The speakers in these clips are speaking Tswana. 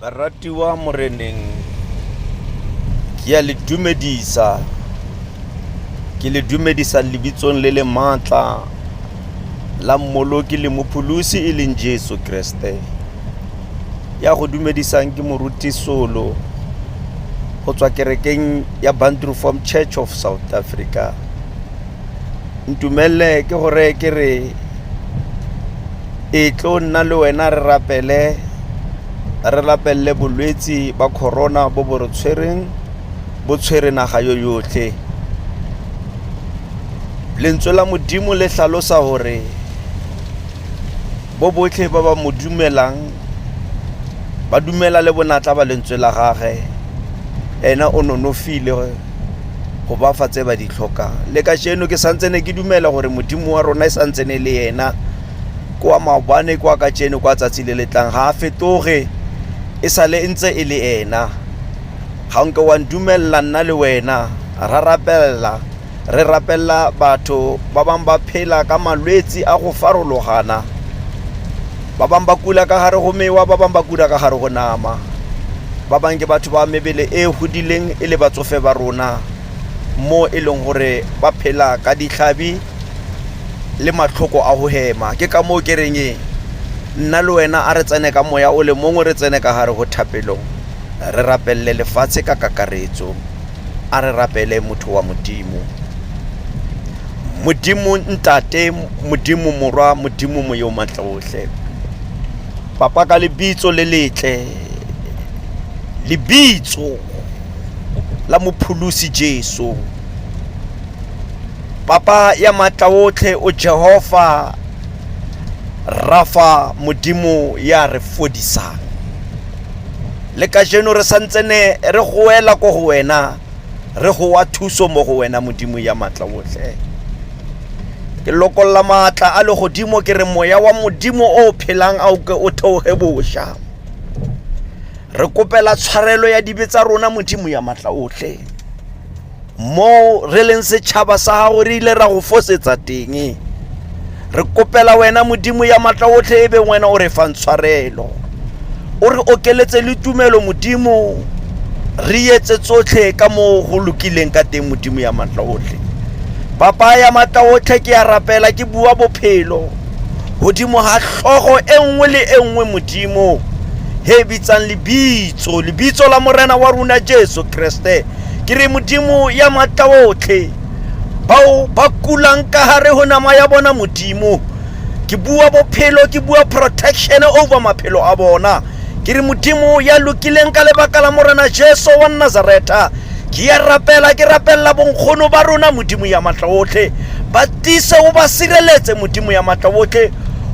baratiwa moreneng ke a le dumedisa ke le dumedisa lebitsong le le maatla la mmoloki le mopholosi e leng jesu kreste ya go dumedisang ke moruti solo go tswa kerekeng ya bantroform church of south africa ntumelele ke go reye ke re e tlo nna le wena re rapele re lapelele bolwetse ba corona bo bo re tshwereng bo tshwere naga yo yotlhe lentswe la modimo le tlhalosa gore bo botlhe ba ba mo dumelang ba dumela le bonatla ba lentswe la gage ena o nonofile go ba fa tse ba di tlhokang le ka jeno ke santse ne ke dumela gore modimo wa rona e santse ne le ena kwa maobane kwa ka jeno kwa tsatsi le letlang ga a fetoge e sale e ntse e le ena ga nke wa ndumelela nna le wena ra rapelela re rapelela batho ba bangwe ba phela ka malwetse a go farologana Ba bangwe ba kula ka gare go mewa, ba bangwe ba kula ka gare go nama. Ba bangwe ke batho ba mebele e e godileng e le batsofe ba rona mo e leng gore ba phela ka ditlhabi le matlhoko a go hema. Ke ka moo ke reng e nna le wena a re tsene ka moya o le mongwe re tsene ka gare go thapelo re rapelele lefatshe ka kakaretso. a re rapele motho wa modimo modimo ntate modimo morwa modimo moyo matlotlhe papa ka lebitso le letle lebitso la mopholosi jesu papa ya matla otlhe o jehova rafa modimo ya re fodisang le kajeno re santse ne re goela ko go wena re gowa thuso mo go wena modimo ya maatla otlhe ke lokolola maatla a legodimo ke re moya wa modimo o o phelang a o ke o theoge bosha re kopela tshwarelo ya dibe tsa rona modimo ya maatla otlhe moo re leng setšhaba sa gago re ile ra go fosetsa teng re kopela wena modimo ya matla otlhe e beng wena o re fang tshwarelo o re okeletse le tumelo modimo re etse tsotlhe ka moo go lokileng ka teng modimo ya matla otlhe papa ya matla otlhe ke ya rapela ke bua bophelo godimo ga tlhogo e nngwe le e nngwe modimo he bitsang lebitso lebitso la morena wa rona jesu kreste ke re modimo ya maatla otlhe bao ba kulang ka gare go nama ya bona modimo ke bua bophelo ke bua protection over maphelo a bona ke re modimo ya lokileng ka lebaka la morena jesu wa nazareta ke ya rapela ke rapelela bonkgono ba rona modimo ya maatla otlhe ba tise o ba sireletse modimo ya maatla otlhe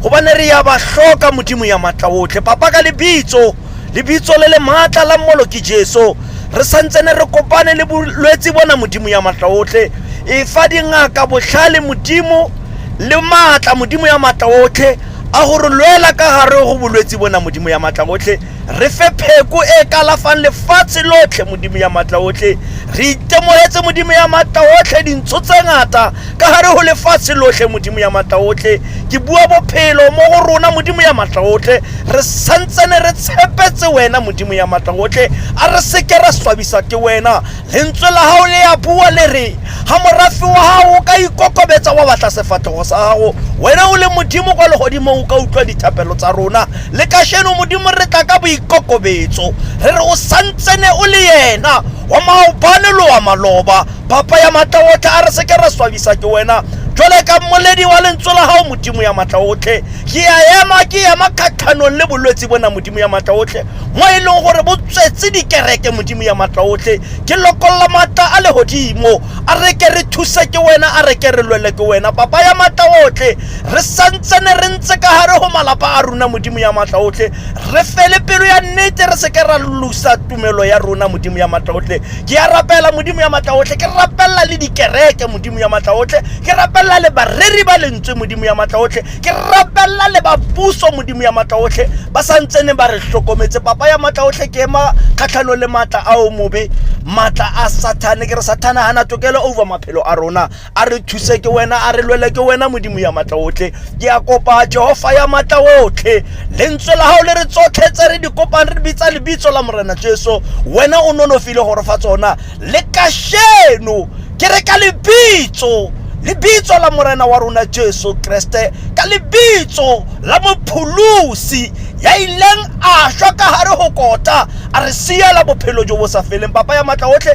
gobane re ya ba hloka modimo ya maatla otlhe papa ka lebitso lebitso le le maatla la mmolo ke jesu re santsene re kopane le bolwetse bona modimo ya matla otlhe e fa dingaka botlhale modimo le maatla modimo ya maatla otlhe a go re lwela ka gare go bolwetse bona modimo ya maatla otlhe re fe pheko e kalafang lefatshe lotlhe modimo ya maatla otlhe re itemogetse modimo ya maatla otlhe dintsho tse ngata ka gare go lefatshe lotlhe modimo ya matlaotlhe ke bua bophelo mo go rona modimo ya matlaotlhe re santsene re tshepetse wena modimo ya matlaotlhe a re seke ra swabisa ke wena lentswe la gago le ya bua le re ga morafe wa gago o ka ikokobetsa wa batla sefatlhego sa gago wena o le modimo kwa legodimong o ka utlwa dithapelo tsa rona le kasheno modimo re tla ka boikokobetso re re o santsene o le yena wa maobane lo wa maloba phapa ya matla otlhe a re seke ra swabisa ke wena jwale ka mmoledi wa lentswe la gago modimo ya matla otlhe ke ya ema ke ema kgatlhanong le bolwetse bona modimo ya matla otlhe mo e leng gore bo tswetse dikereke modimo ya matla otlhe ke lokolola matla a legodimo a re ke re thuse ke wena a re ke re lwele ke wena papa ya matla otlhe re santsene re ntse ka gare go malapa a rona modimo ya matla otlhe re fele pelo ya nnete re seke ra lusa tumelo ya rona modimo ya matla otlhe ke ya rapela modimo ya matla otlhe ke rapelela le dikereke modimo ya matla otlhe ke rapelela le bareri ba lentswe modimo ya matla otlhe ke rapelela le bapuso modimo ya matla otlhe ba sa ntsene ba re tlhokometse papa ya matla otlhe ke ema kgatlhano le matla a o mobe matla a sathane ke re sathane ga na tokelo over maphelo a rona a re thuse ke wena a re lwele ke wena modimo ya matla otlhe ke a kopa jehofa ya matla otlhe lentswe la gago le re tsotlhe tse re di kopang re bitsa lebitso la morena jesu wena o nonofile gore fa tsona le kasheno ke re ka lebitso lebitso la morena wa rona jesu kreste ka lebitso la mopholosi ya ileng a shwa ka gare go kota a re siela bophelo jo bo sa feleng papa ya matla otlhe